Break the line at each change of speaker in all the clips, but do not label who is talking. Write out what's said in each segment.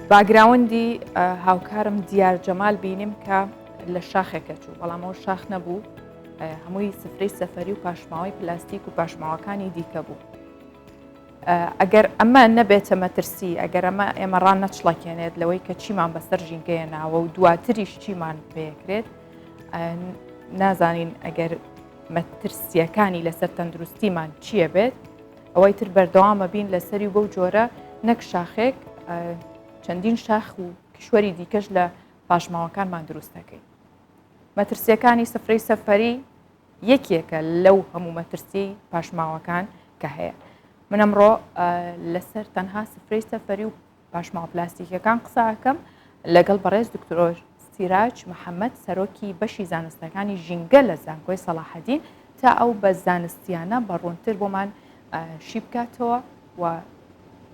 باگراوندی هاوکارم دیار جەمال بینیم کە لە شاخێکە چوو بەڵامەوە شاخ نەبوو هەمووی سفرەی سەفری و پاشماوەی پلاستیک و پاشماوەکانی دیکە بوو ئەگەر ئەمە نەبێتە مەترسی ئەگەر ئەمە ئێمە ڕان نەچڵەکێنێت لەوەی کە چیمان بەسەر ژینگەیە ناوە و دواتریش چیمان پێکرێت نازانین ئەگەر مەترسیەکانی لەسەر تەندروستیمان چییە بێت ئەوەی تر بەردەوامە بین لەسەری و بەو جۆرە نەک شاخێک چەندین شاخ و کیشوەری دیکەش لە پاشماوەکانمان دروست دەکەین مەترسیەکانی سفرەی سەفەری یەکێکە لەو هەموو مەترسی پاشماوەکان کە هەیە من ئەمڕۆ لەسەر تەنها سفرەی سەفەری و پاشماوە پلاستیکیەکان قسە ئەکەم لەگەڵ بەڕێز دکتۆر سیراج محەممەد سەرۆکی بەشی زانستەکانی ژینگە لە زانکۆی سەڵاحەدین تا ئەو بە زانستیانە بە ڕوونتر بۆمان شی بکاتەوە و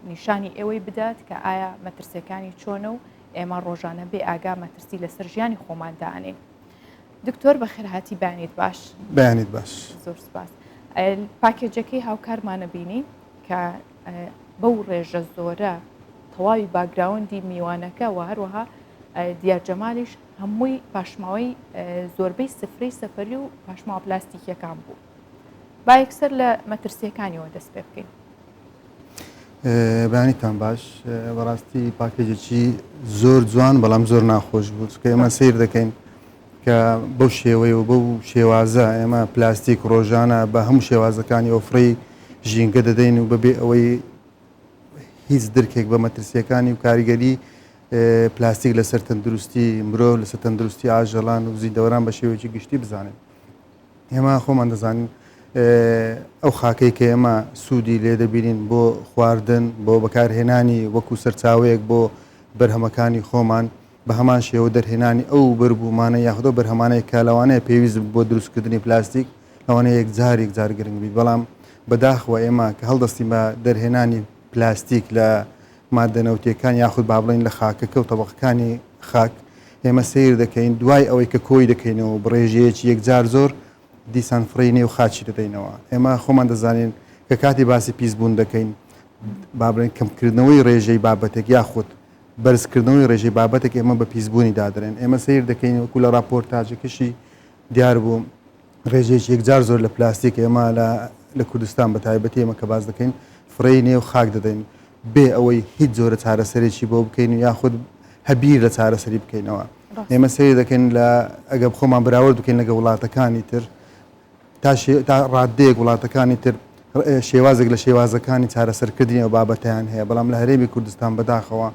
نیشانی ئێوەی بدات کە ئایا مەترسیەکانی چۆنە و ئێمە ڕۆژانە بێ ئاگا مەترسی لەسەر ژیانی خۆماندانین دکتۆر بە خێرهاتی بانیت باش بانیت باش
زۆر سپاس
پاکێجەکەی هاوکارمانە بینی کە بەو ڕێژە زۆرە تەواوی باگراوەندی میوانەکە و هەروەها دیار جەمالیش هەمووی پاشماوەی زۆربەی سفرەی سەفری و پاشماوە پلاستیکیەکان بوو با یەکسەر لە مەترسیەکانیەوە دەست پێ بکەین
بەیانیتان باش بەڕاستی پاکێجێکی زۆر جوان بەڵام زۆر ناخۆش بوو چکە ئێمە سیر دەکەین کە بەو شێوەیە و بەو شێوازە ئێمە پلاستیک ڕۆژانە بە هەموو شێوازەکانی ئۆفڕی ژینگە دەدەین و بەبێ ئەوەی هیچ درکێک بە مەترسیەکانی و کاریگەری پلاستیک لەسەر تەندروستی مرۆ لەسەر تەندروستی ئاژەڵان و زیندەوەران بە شێوەیەکی گشتی بزانێت ئێمە خۆمان دەزانین ئەو خاکەی کە ئێمە سوودی لێ دەبینین بۆ خواردن بۆ بەکارهێنانی وەکو سەرچاوەیەک بۆ بەرهەمەکانی خۆمان بە هەمان شێوە دەرهێنانی ئەو بەروبوومانە یاخود ئەو بەرهەمانەی کە لەوانەیە پێویست بن بۆ دروستکردنی پلاستیک لەوانەیە یەکجار یەکجار گرنگ بیت بەڵام بەداخەوە ئێمە کە هەڵدەستین بە دەرهێنانی پلاستیک لە ماددە نەوتییەکان یاخود با بڵێین لە خاکەکە و تەبەقەکانی خاک ئێمە سەیر دەکەین دوای ئەوەی کە کۆی دەکەینەوە بە ڕێژەیەکی یەکجار زۆر دیسان فڕێی نێو خاکی دەدەینەوە ئێمە خۆمان دەزانین کە کاتی باسی پیسبوون دەکەین با بڵێین کەمکردنەوەی ڕێژەی بابەتێک یاخود بەرزکردنەوەی ڕێژەی بابەتێک ئێمە بە پیسبوونی دادەنێن، ئێمە سەیر دەکەین وەکو لە ڕاپۆرتاجەکەشی دیار بوو ڕێژەیەکی یەکجار زۆر لە پلاستیک ئێمە لە لە کوردستان بە تایبەتی ئێمە کە باس دەکەین فڕێی نێو خاک دەدەین بێ ئەوەی هیچ جۆرە چارەسەرێکی بۆ بکەین و یاخود هە بیر لە چارەسەری بکەینەوە ڕاست ئێمە سەیر دەکەین لە ئەگەر خۆمان بەراورد بکەین لەگە وڵاتەکانی تر تا شێ تا ڕاددەیەک وڵاتەکانی تر شێوازێک لە شێوازەکانی چارەسەرکردنی ئەو بابەتیان هەیە بەڵام لە هەرێمی کوردستان بەداخەوە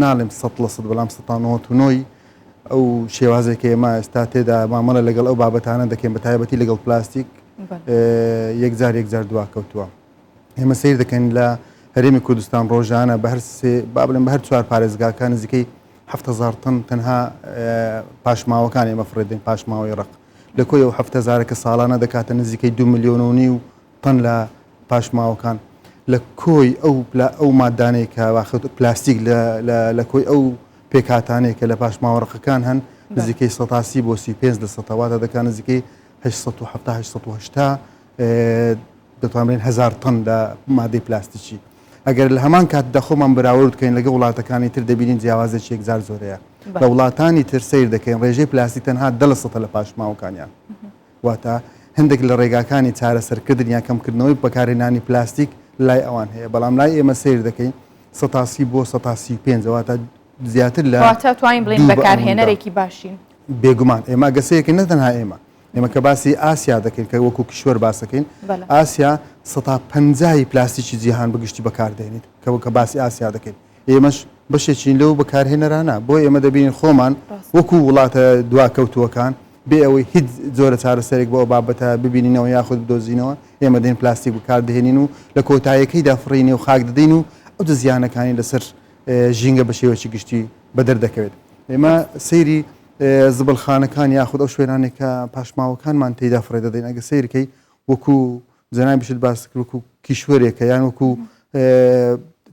ناڵێم سە لە سە بەڵام سەۆی ئەو شێوازێکی ئێمە ئێستا تێدا مامەڵە لەگەڵ ئەو بابەتانە دەکەین بە تایبەتی لەگەڵ پلاستیک یەکجار یەکجار دوا کەوتووە ئێمە سیر دەکەن لە هەرێمی کوردستان ڕۆژانە بە هەر سێ با بڵێن بە هەر چوار پارێزگاکان نزیکەی هەزار تن تەنها پاشماوەکان ئێمە فڕێدەین پاشماوەی ڕق لە کۆی ئەو حەفت هەزارە کە ساڵانە دەکاتە نزیکەی دوو ملیۆن و نیو تەن لە پاشماوەکان لە کۆی ئەو ئەو ماددانەی کە واخت پلاستیک لە لە لە کۆی ئەو پێکهاتانەی کە لە پاشماوە ڕەقەکان هەن نزیکەی سەتا سی بۆ سی پێنج لە سەتا واتە دەکات نزیکەی هەشت سەد و حەفتا هەشت سەد و هەشتا دەتوانرێن هەزار تەن لە مادەی پلاستیکی ئەگەر لە هەمان کاتدا خۆمان بەراورد بکەین لەگەڵ وڵاتەکانی تر دەبینین جیاوازیەکی یەکجار زۆر هەیە لە وڵاتانی تر سیر دەکەین ڕێژەی پلاستیک تەنها دە لە سەدە لە پاشماوەکانیان واتە هەندێک لە ڕێگاکانی چارەسەرکردن یا کەمکردنەوەی بەکارهێنانی پلاستیک لای ئەوان هەیە بەڵام لای ئێمە سیر دەکەین سەتاسی بۆ سەتاسی پێنج واتە زیاتر لە توانین بڵین
بەکارهێنەرێکی باشین بێگومان ئێمە
گەسەیەکە نەتەنها ئێمە ئێمە کە باسی ئاسیا دەکەین کە وەکو کیشوەر باسەکەین ئاسیا سەتا پەنجایی پلاستیکی جیهان بگشتی بەکاردێنیت کەەوە کە باسی ئاسیا دەکەین ئێمەش بەشێکین لەو بەکارهێنەرانە بۆ ئێمە دەبین خۆمان وەکو وڵاتە دواکەوتووەکان بێ ئەوەی هیچ زۆرە چارەسەرێک بۆ بابەتە ببینینەوە یاخود بدۆزینەوە ئێمە دێن پلاستیک بکاردهێنین و لە کۆتایەکەی دافڕینێ و خاک دەدەین و ئەو دە زیانەکانی لەسەر ژینگە بە شێوەی گشتی بەدەر دەکەوێت ئێمە سەیری زبڵخانەکان یاخود ئەو شوێنانەی کە پاشماوەکانمان تێیدا فڕێ دەدەین ئەگە سەیرکەی وەکو جەنابیشت باست کرد وەکو کیشوەرێکە یان وەکو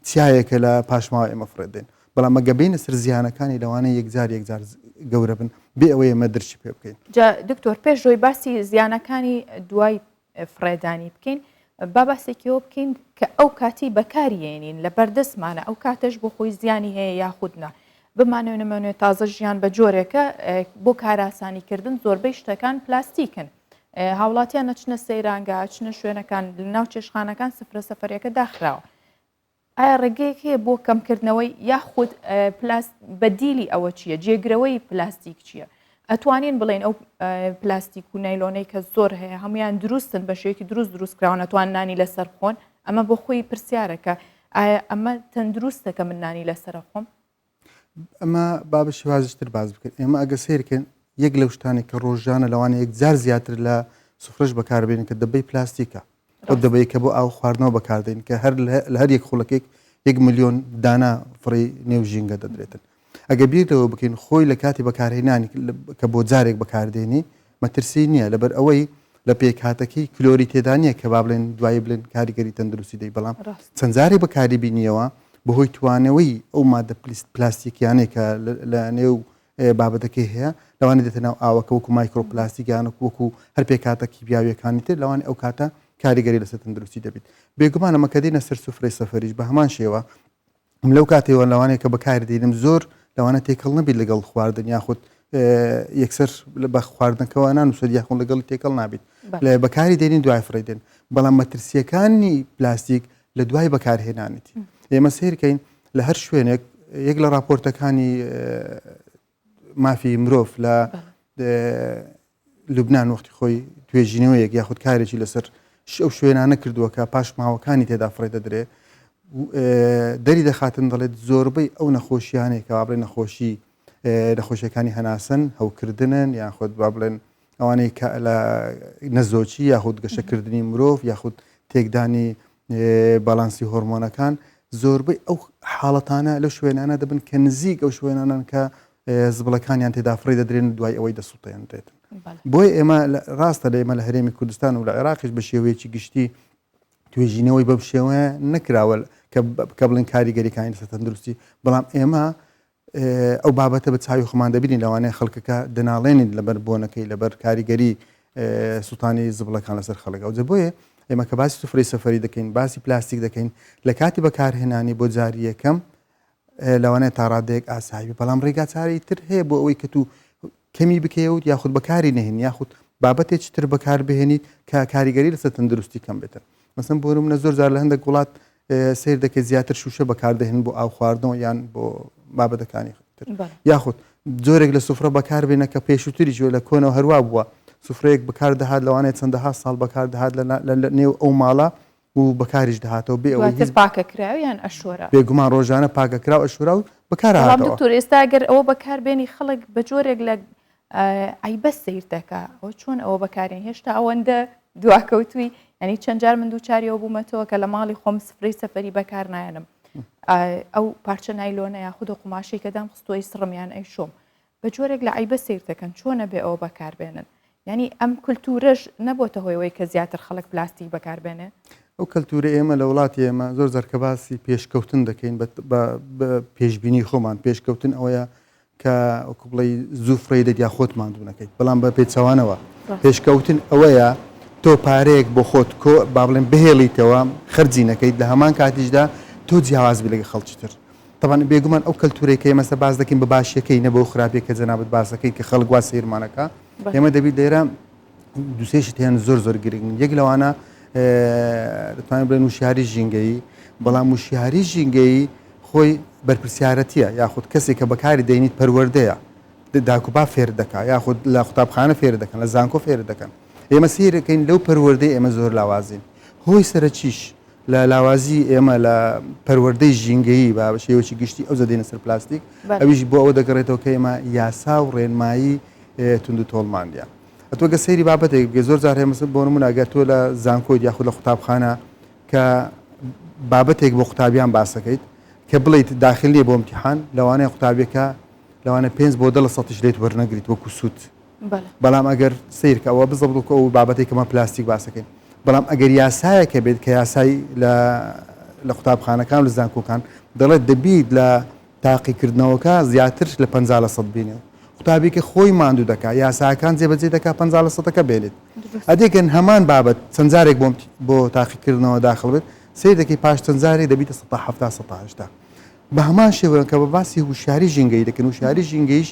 چیایەکە لە پاشماوە ئێمە فڕێ دێن بەڵام ئەگە بینە سەر زیانەکانی لەوانە یەکجار یەکجار گەورە بن بێ ئەوەی ئێمە درکی پێ بکەین جا دکتۆر
پێش ڕۆی باسی زیانەکانی دوای
فڕێدانی
بکەین با باسێکیەوە بکەین کە ئەو کاتی بەکاریێنین لە بەردەستمانە ئەو کاتەش بۆ خۆی زیانی هەیە یاخودنا بمانەوە نمەوێت تازە ژیان بە جۆرێکە بۆ کاراسانیکردن زۆربەی شتەکان پلاستیکن هاوڵاتیان نەچنە سەیرانگە چنە شوێنەکان ناو چێشخانەکان سفرە سەفرەکە داخراوە ئایا ڕێگەیەک هەیە بۆ کەمکردنەوەی یاخود پلاست بەدیلی ئەوە چییە جێگرەوەی پلاستیک چییە ئەتوانین بڵێن ئەو پلاستیک و نایلۆنەی کە زۆر هەیە هەمویان دروستن بە شێوکی دروست دروستکراون ئەتوان نانی لەسەر خۆن ئەمە بۆ خۆی پرسیارەکە ئایا ئەمە تەندروستە کە من نانی لەسرە خۆم ئەمە
با بە شێوازی تر باس بکەین. ئێمە ئەگەر سەیر بکەین، یەک لەو شتانەی کە ڕۆژانە لەوانەیە یەکجار زیاتر لە سفرەش بەکاربێنین کە دەبەی پلاستیکە. ئەو ڕاستە. دەبەیە کە بۆ ئاو خواردنەوە بەکار دێنین کە هەر لە لە هەر یەک خولەکێک یەک ملیۆن دانە فڕێی نێو ژینگە دەدرێتن. ئەگەر بیر لەوە بکەین خۆی لە کاتی بەکارهێنانی کە بۆ جارێک بەکاردێنی، مەترسی نیە لەبەر ئەوەی لە پێکهاتەکەی کلۆری تێدا نیە کە با بڵێن دوایی بڵێن کاریگەری تەندروستی دەی بەڵام چەند جارێ بەکاری بینیەوە بەهۆی توانەوەی ئەو مادە پلیست پلاستیکیانەی کە لە نێو بابەتەکەی هەیە لەوانی دێتە ناو ئاوەکە وەکو مایکرۆپلاسیگانک وەکو هەر پێکاتە کیبیاویەکانی تر لەوانی ئەو کاتە کاریگەری لەسەر تەندروستی دەبیت بێگومانە مەکە دینە سەر سفرەی سەفریش بە هەمان شێوە من لەو کاتەوە لەوانەیە کە بەکاری دێنم زۆر لەوانە تێکەڵ نەبیت لەگەڵ خواردن یاخود یەکسەر بە خواردنەکەەوە نانووسەر یاخۆن لەگەڵی تێکەڵ نابیت لە بەکاری دێنین دوای فڕێدێن بەڵام مەترسیەکانی پلاستیک لە دوای بەکارهێنانێتی ئێمە سیرکەین لە هەر شوێنێک یەک لە راپۆرتەکانی مافی مرۆڤ لە لوبناان وەختی خۆی توێژینەوەیەک یاخود کارێکی لەسەر ئەو شوێنانە کردووە کە پاشماوەکانی تێدا فڕێ دەدرێ دەری دەخاتن دەڵێت زۆربەی ئەو نەخۆشیانەیە کە بابلێن نەخۆشی نەخۆشیەکانی هەناسن هەوکردنن یاخود با بڵێن ئەوانەی لە نەزۆچی یاخود گەشەکردنی مرۆڤ یاخود تێکدانی باڵانسی هۆرمۆنەکان زۆربەی ئەو حاڵەتانە لە شوێنانە دەبن کە نزیک ئەو شوێنانن کە زبڵەکانیان تێدافڕی دەدرێن و دوای ئەوەی دەسوڵتێنرێتن بۆی ئێمە ڕاستە لە ئێمە لە هەرێمی کوردستان و لە عێراقش بە شێوەیەکی گشتی توێژینەوەی بەم شێوەیە نەکراوە کە بڵین کاریگەریەکانی لەسەر تەندروستی بەڵام ئێمە ئەو بابەتە بە چاوی خۆمان دەبینین لەوانەیە خەڵکەکە دەناڵێنین لەبەر بۆنەکەی لەبەر کاریگەری سوڵتانی زبڵەکان لەسەر خەڵک ئەوجە بۆیە ئێمە کە باسی سفری سەفری دەکەین باسی پلاستیک دەکەین لە کاتی بەکارهێنانی بۆ جاری یەکەم لەوانەیە تا ڕادێک ئاسایی بەڵام ڕێگا چارەی تر هەیە بۆ ئەوەی کە تو کەمی بکەوت یاخود بەکاری نهێن یاخود بابەتێک تر بەکار بهێنیت کە کاریگەری لەسەر تەندروستی کەم بێتن مەسم بۆرم نە زۆر جار لە هەندێک وڵات سەیر دەکەیت زیاتر شوشە بەکاردەهێن بۆ ئاو خواردنەوە یان بۆ مابەدەکانی تر یاخود جۆرێک لە سفرە بەکاربێنە کە پێشووتری جوێ لە کۆنەوە هەروە بووە سفرەیەک بکار دەهات لەوانێت چەندەها ساڵ بەکار دەهات لە نێو ئەو ماڵە و بەکاریش دەهاتەوە بێ ئەوەی پاکە کراویان
ئەشۆرە بێگومان ڕۆژانە پاکە
کراو ئەشورا و بەکار دکتۆر ئێستا گەر ئەوە
بەکاربێنی خەڵک بە جۆرێک لە عەیبە سەیر دەکا ئەوە چۆن ئەوە بەکارێن هێشتا ئەوەندە دواکەوتوی ینی چەند جار من دووچاریەوە بوومەتەوە کە لە ماڵی خۆم سفری سەفری بەکار نایەنم ئەو پارچە نایلۆنە یا خودە قوماشی کەدام خستۆی سڕمیان ئەی شۆم بە جۆرێک لە عیبە سیر دەکەن چۆنە بێ ئەوە بەکاربێنن ینی ئەم کولتورەش نەبۆتە هۆیەوەی کە زیاتر خەڵک پلاستیک بەکاربێنێ ئەو کەلتورە
ئێمە لە وڵاتی ئێمە زۆر زەرکەباسی پێشکەوتن دەکەین بە پێشببینی خۆمان پێشکەوتن ئەوەیە کە وەکو بڵێی زوو فڕێی دەت یا خۆت ماندوو نەکەیت، بەڵام بە پێچەوانەوە پێشکەوتن ئەوەیە تۆ پارەیەک بۆ خۆت کۆ با بڵێن بهێڵیتەوە خەرجی نەکەیت لە هەمان کاتیشدا تۆ جیاواز بی لەگە خەڵکی تر. تەبعەن بێگومان ئەو کەلتوورەی کە ئێمە ئێستا باس دەکەین بە باشییەکەی نە بەو خراپییە کە جەنابت باس دەکەیت کە خەڵک وا سەیرمان ئەکا، ئێمە دەبی لێرە دوسێشت هێن زۆر زۆر گرنگ یەک لەوانە دەتوانین بڵێن وشیاری ژینگەیی بەڵام وشیاری ژینگەیی خۆی بەرپسیارەتیە یاخود کەسێک کە بەکاری دەینیت پەروەردەیە داکوبا فێر دەکا یاخود لە قوتابخانە فێر دەکەن لە زانکۆ فێر دەکەن ئێمە سیرەکەین لەو پەروەردەی ئێمە زۆر لاوازین هۆی سەرەکیش لە لاوازی ئێمە لە پەروەردەی ژینگەیی با بە شێوەیەکی گشتی ئەوجە دێنە سەر پلاستیک ئەویش بۆ ئەوە دەگەڕێتەوە کە ئێمە یاسا و ڕێنمایی تونند و تۆڵمان دیە ئەتۆ گە سەیری بابەتێک بێ زۆر جار هێمەسە بۆ من ئەگەر تۆ لە زانکۆی یاخود لە قوتابخانە کە بابەتێک بۆ قوتابیان باسەکەیت کە بڵیت داخل نیە بۆ امتحان لەوانەیە قوتابیەکە لەوانە پێنج بۆ دە لە سەتیش لێت وەرنەگریت وەکو سوود بەڵام ئەگەر سەیرکە ئەوە بزە بڵکە ئەو بابەتی کەمە پلاستیک باسەکەین بەڵام ئەگەر یاسایەکە بێت کە یاسایی لە لە قوتابخانەکان و زانکۆکان دەڵێت دەبیت لە تاقیکردنەوەکە زیاتر لە پ لە سەد بینێ قوتابیکە خۆی ماندوو دەکا یاساکان جێبەجێ دەکا پ لە سەدەکە بێنێت ئەدێکن هەمان بابەت چەندجارێک بۆم بۆ تاقیکردنەوە داخڵ بێت سیر دەکەی پاش چەندجارێک دەبیتە سە هەفتا سەهشتا بە هەمان شێوەیە کە بە باسی هوشاری ژینگەی دەکەن و شاری ژینگەیش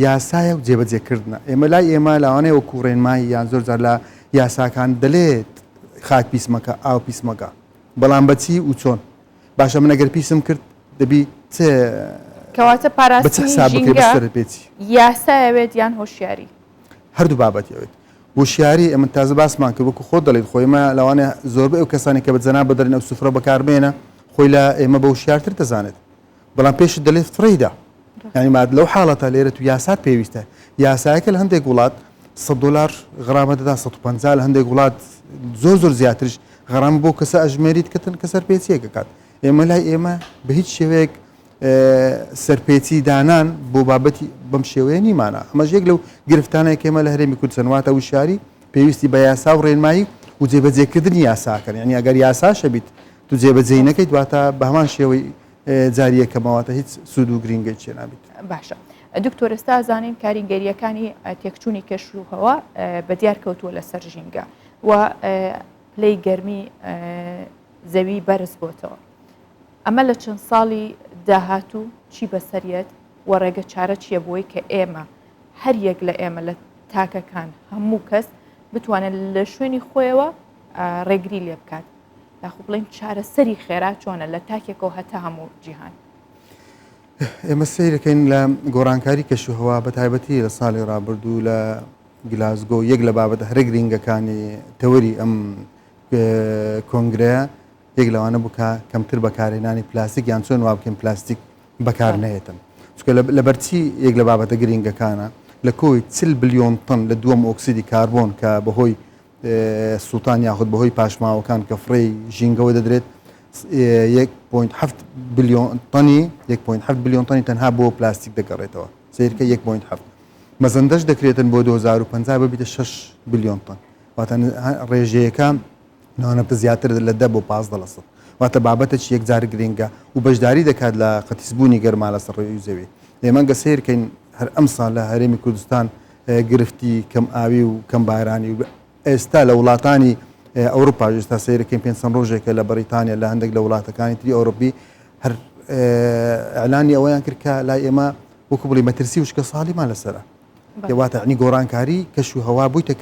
یاسایە و جێبەجێ کردنە. ئێمە لای ئێمە لەوانەیە وەکوو ڕێنمایی یان زۆر جار لە یاساکان دەلێت خاک پیس مەکە، ئاو پیس مەکە. بەڵام بە چی و چۆن؟ باشە من ئەگەر پیسم کرد دەبی چ
کەواتە بە چ پاراستنی حساب بکەی ژینگە بەسەرت بێ چی؟ یاسا یەوێت یان هۆشیاری؟ هەردوو بابەت
یەوێت. هۆشیاری ئێمە تازە باسمان کرد وەکوو خۆت دەڵێیت خۆ ئێمە لەوانەیە زۆربەی ئەو کەسانەی کە بە جەنابت دەلێن ئەو سفرە بەکار بێنە خۆی لە ئێمە بە وشیارتر دەزانێت. بەڵام پێشت دەلێت فڕێیدا ینی ماد لەو حاڵەتە لێرە تو یاسات پێویستە یاسایەکە لە هەندێک وڵات 100 دلار غرامە دەدا 150 لە هەندێک وڵات زۆر زۆر زیاترش غرام بۆ کەسە ئەژمێریت کەتن کە سەر پێچیەکە کات ئێمە لای ئێمە بە هیچ شێوەیەک سەرپێچی دانان بۆ بابەتی بەم شێوەیە نیمانە ئەمەش یەک لەو گرفتانەیە کێمە لە هەرێمی کوردستان واتە وشاری پێویستی بە یاسا و ڕێنمایی و جێبەجێکردنی یاساکەن ینی ئەگەر یاساشە بیت تو جێبەجێ نەکەیت واتە بە هەمان شێوەی جاری یەکەمە واتە هیچ سوود و گرینگەی چێ نابیت. باشە
دکتۆر ئێستا ئەزانین کاریگەرییەکانی تێکچوونی کەش و هەوا بە دیار کەوتووە لەسەر ژینگە و پلەی گەرمی زەوی بەرز بۆتەوە. ئەمە لە چەند ساڵی داهاتوو چی بەسەریەت و ڕێگە چارە چییە بۆی کە ئێمە هەر یەک لە ئێمە لە تاکەکان هەموو کەس بتوانێت لە شوێنی خۆیەوە ڕێگری لێ بکات یاخو بڵین چارەسەری خێرا چۆنە لە تاکێکەوە هەتا هەموو جیهان
ئێمە سیرەکەین لە گۆڕانکاری کەش و هەوا بە تایبەتی لە ساڵی ڕابردوو لە گلاسگۆ یەک لە بابەتە هەرە گرنگەکانی تەوەری ئەم کۆنگرەیە یەک لەوانە بکە کەمتر بەکارێنانی پلاستیک یان چۆن وابکەین پلاستیک بەکار نێتن چکە لە بەرچی یەک لە بابەتە گرنگەکانە لە کۆی چل بلیۆن تن لە دووەم ئۆکسیدی کاربۆن کە بەهۆی سوڵتان یاخود بەهۆی پاشماوەکان کە فڕێی ژینگەوە دەدرێت، یەک پۆینت حەفت بلیۆن تەنی یەک پۆینت حەفت بلیۆن تەنی تەنها بۆ پلاستیک دەگەڕێتەوە، سەیرکە یەک پۆینت حەفت. مەزەندەش دەکرێتن بۆ دوو هەزار و پەنجا ببیتە شەش بلیۆن تەن، واتە ڕێژەیەکە نانەفتە زیاترە لە دە بۆ پازدە لە سەد، واتە بابەتەکی یەکجار گرنگە و بەشداری دەکات لە قەتیسبوونی گەرما لەسەر ڕووی زەوی. ئێمە گەر سەیرکەین هەر ئەمساڵ لە هەرێمی کوردستان، گرفتی کەم ئاوی و کەم بارانی و ئێستا لە وڵاتانی ئەوروپا ئێستا سیرکەین پێ چەند ڕۆژێکە لە بەریتانیا لە هەندێک لە وڵاتەکانی تری ئەوروپی هەر ئەلانی ئەوەیان کرد کە لای ئێمە وەکو بڵی مەترسی وشکە ساڵیمان لەسرە واتەنی گۆڕانکاری کەش و هەوا بوویتە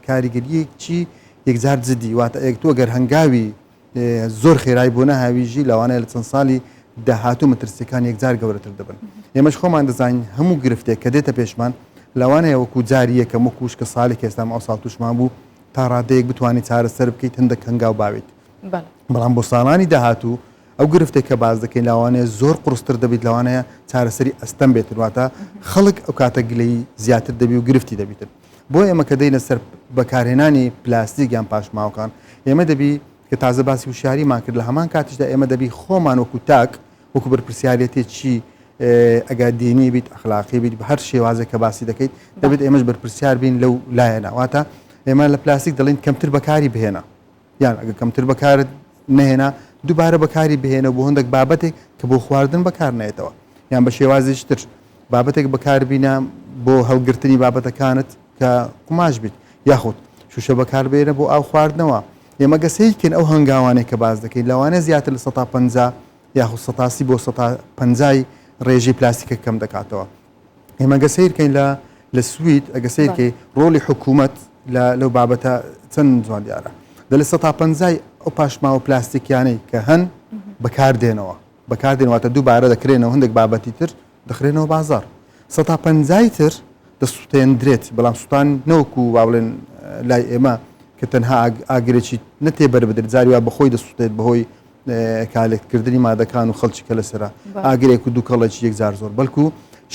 کاریگەریەکی یەکجار جدی واتە ئەک تۆ گەر هەنگاوی زۆر خێرای بۆ نەهاویژی لەوانەیە لە چەند ساڵی داهاتوو مەترسیەکان یەکجار گەورەتر دەبن ئێمەش خۆمان دەزانین هەموو گرفتێک کە دێتە پێشمان لەوانەیە وەکو جاری یەکە مکوش کە ساڵی کێستام ئەو ساڵ توشمان بوو تا ڕادەیەک بتوانانی چارەسەر بکەیت هەندە کەنگاو باویت بەڵام بۆ ساڵانی داهاتوو ئەو گرفتێک کە باز دەکەین لاوانەیە زۆر قرستر دەبیت لەوانەیە چارەسەری ئەستەم بێتن واتە خەڵک ئەو کاتە گلەی زیاتر دەبی و گرفتی دەبیتن بۆ ئێمە کە دەینە سەر بەکارهێنانی پلاستیک یان پاشماوەکان ئێمە دەبی کە تازە باسی وشاریمان کرد لە هەمان کاتیشدا ئێمە دەبی خۆمان وەکو تاک وەکو بەرپرسیارەتێ چی ئەگا دینی بیت ئەخلاقی بیت بە هەر شێوازە کە باسی دەکەیت دەبێت ئێمەش بەرپرسیار بین لەو لایەنەواتە ئێمە لە پلاستیک دەڵین کەمتر بەکاری بهێنا یان ئەگەر کەمتر بەکارت نەهێنا دووبارە بەکاری بهێنە بۆ هەندێک بابەتێک کە بۆ خواردن بەکار نێتەوە یان بە شێوازیش تر بابەتێک بەکاربیینە بۆ هەڵگرتنی بابەتەکانت کە قوماش بیت یاخود شوشە بەکاربێنە بۆ ئاو خواردنەوە ئێمە گەسەیکن ئەو هەنگاوانێک کە باز دەکەین لەوانە زیاتر لە 150 یاخود سەتاسی بۆ 150 ڕێژەی پلاستیکە کەم دەکاتەوە ئێمە گە سیرکەین لە لە سوید ئەگە سیرکەی ڕۆلی حکوومەت لەو بابەتە چەند جوان دیارە دە لە سە تا پەنجای ئەو پاشماوە پلاستیکیانەی کە هەن بەکاردێنەوە بەکاردێنواتە دووبارە دەکرێنەوە هەندێک بابەتی تر دەخرێنەوە بازار سە تا پەنجای تر دەسووتێندرێت بەڵام سووتان نەوەکو و واڵێن لای ئێمە کە تەنها ئاگرێکی نەتێ بەر بدرێت زاری وا بەخۆی دەسووتێت بەهۆی کالکتکردنی مادەکان و خەڵکی کە لەسەر ئاگرێک و دووکەڵێکی یەکجار زۆر بەڵکو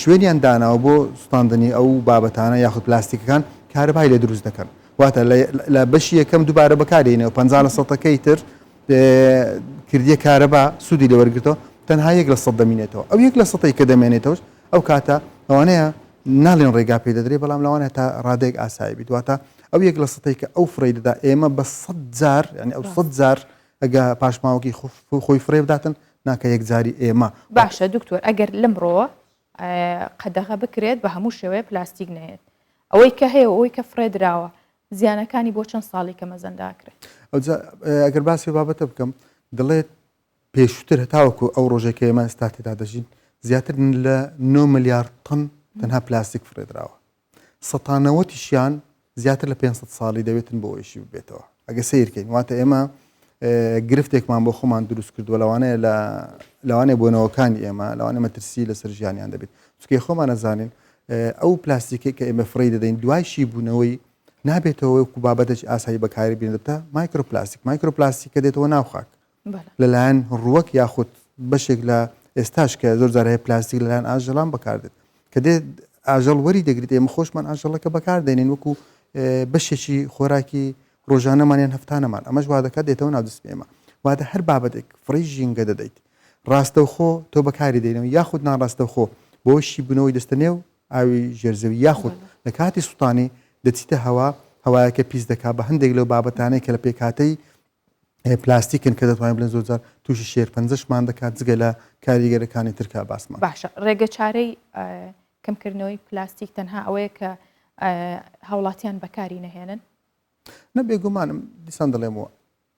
شوێنیان داناوە بۆ سوتاندنی ئەو بابەتانە یاخود پلاستیکەکان کارەبای لێ دروست دەکەن واتە لە بەشی یەکەم دووبارە بەکارێنەوە پ لە سەتەکەی تر کردیە کارەبا سوودی لێ وەرگتەوە تەنها یەک لە سەد دەمینێتەوە ئەو یەک لە سەی کە دەمێنێتەوە ئەو کاتە ئەوانەیە ناڵێن ڕێگا پێ دەدرێت بەڵام لەوانە تا ڕادێک ئاسایی بیدواتە ئەو یەک لە سەی کە ئەو فڕی دەدا ئێمە بە سەد جار ینی ئەو سەد جار ئەگە پاشماوەکی خۆی
فرێ بداتن
ناکە
یەکجاری
ئێمە.
باشە
دکتۆر ئەگەر
لەمڕۆوە
قەدەغە
بکرێت بە هەموو شێوەیە پلاستیک نەیەت ئەوەی کە هەیە ئەوەی کە فرێ دراوە زیانەکانی بۆ چەند ساڵی کە مەزەنداکرێت ئەگەر
باسی بابەتە بکەم دەڵێت پێشتر هەتاوەکو ئەو ڕۆژێکە ئێمە ئێستا تێدا دەژین زیاتر لە 9 ملیارد تن تەنها پلاستیک فرێدراوە سەتانەوەتیشیان زیاتر لە پێنج سەد ساڵی دەوێتن بۆ ئەویشی ببێتەوە ئەگە سیرکەین واتە ئێمە گرفتێکمان بۆ خۆمان دروست کردووە لەوانەیە لە لەوانێ بۆنەوەکانی ئێمە لەوانێ مەترسی لەسەر ژیانیان دەبێت چکێ خۆمان نەزانین ئەو پلاستیکی کە ئێمە فڕی دەدەین دوایشی بوونەوەی نابێتەوە وەکو بابەتێک ئاسایی بەکاری بینێتە مایکرۆپلاستیک مایکرۆپلاستیکە دێتەوە ناوخاک لەلایەن ڕووەک یاخود بەشێک لە ئێستاش کە زۆر جار هەیە پلاستیک لەلایەن ئاژەڵان بەکاردێت کە دێت ئاژەڵ وەری دەگریت ئێمە خۆشمان ئاژەڵەکە بەکاردێنین وەکو بەشێکی خۆراکی ڕۆژانەمان یان هەفتانەمان ئەمەش وا دەکات دێتەوە ناودستی ئێمە واتە هەر بابەتێک فڕی ژینگە دەدەیت ڕاستەوخۆ تۆ بەکاری دەینەوە یاخود ناڕاستەوخۆ بۆشی بنەوەی دەستەنێ و ئاوی ژێرزەوی یاخود لە کاتی سووتانی دەچیتە هەوا هەوایەکە پیس دەکا بە هەندێک لەو بابەتانەی کە لە پێکاتەی پلاستیکن کە دەتوانین بڵێن زۆرجار تووشی شێرپەنجەشمان دەکات جگە لە کاریگەرەکانی ترکا باسمان باشە ڕێگە چارەی
کەمکردنەوەی پلاستیک تەنها ئەوەیە کە هاوڵاتیان بەکاری نەهێنن نە بێگومانم
دیسان دەڵێمەوە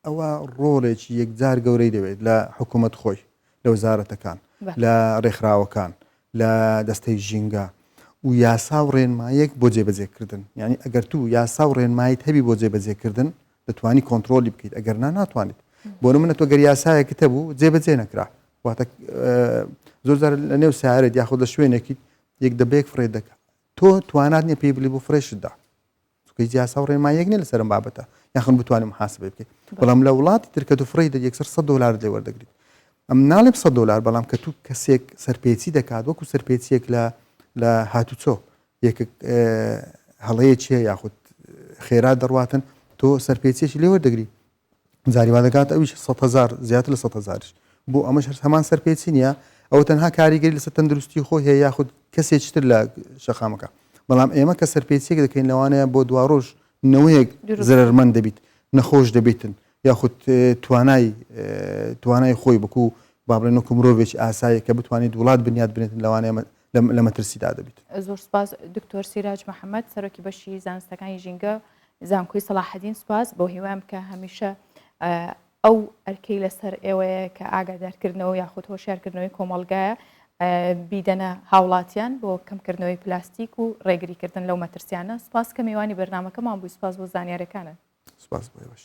ئەوە ڕۆڵێکی یەکجار گەورەی دەوێت لە حکوومەت خۆی لە وزارەتەکان لە ڕێکخراوەکان لە دەستەی ژینگە و یاسا و ڕێنمایەک بۆ جێبەجێکردن یعنی ئەگەر تو یاسا و ڕێنمایت هەبی بۆ جێبەجێکردن دەتوانی کۆنترۆلی بکەیت ئەگەر نا ناتوانیت بۆ نمونە تۆ گەر یاسایەکت هەبوو جێبەجێ نەکرا واتە زۆرجار لە نێو سارێت یاخود لە شوێنێکیت یەک دەبێک فڕێ دەکە تۆ توانات نیە پێی بلی بۆ فرێشتدا چکە یاسا و ڕێمایەک نیە لەسەر بابەتە یاخن بتوانم حاسب بکەیت بەڵام لە وڵاتی ترکە و فڕی دە یەکسەر 100 دلار لێ وەردەگریت ئەم ناڵێم 100 دلار بەڵام کە تو کەسێک سەرپێچی دەکات وەکو سەرپێچیەک لە لە هاتوچۆ یەکێک هەڵەیەکی هەیە یاخود خێرا دەڕواتن تۆ سەرپێچیەکی لێ وەردەگری جاری وا دەکات ئەویش سە هزار زیاتر لە سە هزارش بۆ ئەمەش هەر هەمان سەرپێچی نیە ئەو تەنها کاریگەری لەسەر تەندروستی خۆی هەیە یاخود کەسێکی تر لە شەقامەکە بەڵام ئێمە کە سەرپێچێک دەکەین لەوانەیە بۆ دواڕۆژ نەوەیەک زرەرمەند دەبیت نەخۆش دەبیتن یاخود توانای توانای خۆی بکو با بڵێن وەکو مرۆڤێکی ئاسایی کە بتوانیت وڵات بنیات بنێتن لەوانەیە لە مەترسیدا دەبیت. زۆر سوپاس
دکتۆر سیراج محەمەد سەرۆکی بەشی زانستەکانی ژینگە زانکۆی سەڵاحەدین سوپاس بۆ هیوام بکە هەمیشە ئەو ئەرکەی لەسەر ئێوەیە کە ئاگادارکردنەوە یاخود هۆشیارکردنەوەی کۆمەڵگایە بیدەنە هاوڵاتیان بۆ کەمکردنەوەی پلاستیک و ڕێگریکردن لەو مەترسیانە سوپاس
کە
میوانی بەرنامەکەمان بووی سوپاس
بۆ
زانیارەکانت.
سوپاس
بۆ ئێوەش.